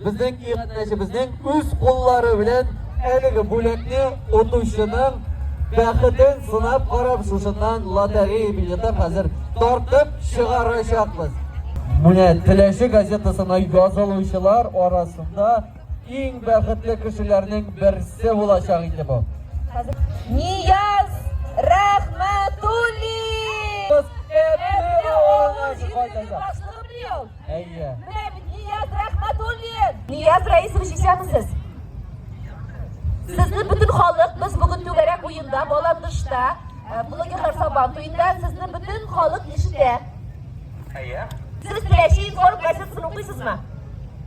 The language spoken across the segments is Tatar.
Безнең иганәчебезнең үз куллары белән әлеге бүләкне отучының бәхетен сынап карап шушыннан лотерея билеты хәзер тартып чыгарачакбыз. Менә Теләче газетасына язылучылар арасында Иң бәхетле кешеләрнең берсе булачак инде бу. Нияз Рәхмәтуллин! Әбе улы җитәкче башлыгы бил. Әйе. Менә бит Нияз Рәхмәтуллин. Нияз Раисович исәнмесез? Сезне бөтен халык без бүген түгәрәк уенда, баландышта, э, блогерлар сабан туенда сезне бөтен халык ишетә. Әйе. Сез теләче информ газетасын укыйсызмы?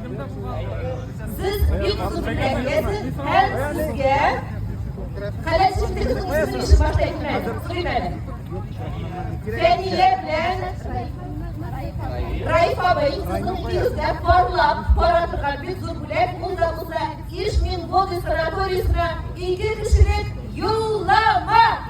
Сез бик озын рәхмәт һәм сезгә Каләсиндегез үзен иши башта әйтмәде, сөйләмәде. Фәния белән Раиф абый сезнең икегезгә парлап бара торган бик зур бүләк булса булса Ишмин Боды санаториясенә ике кешелек юллама!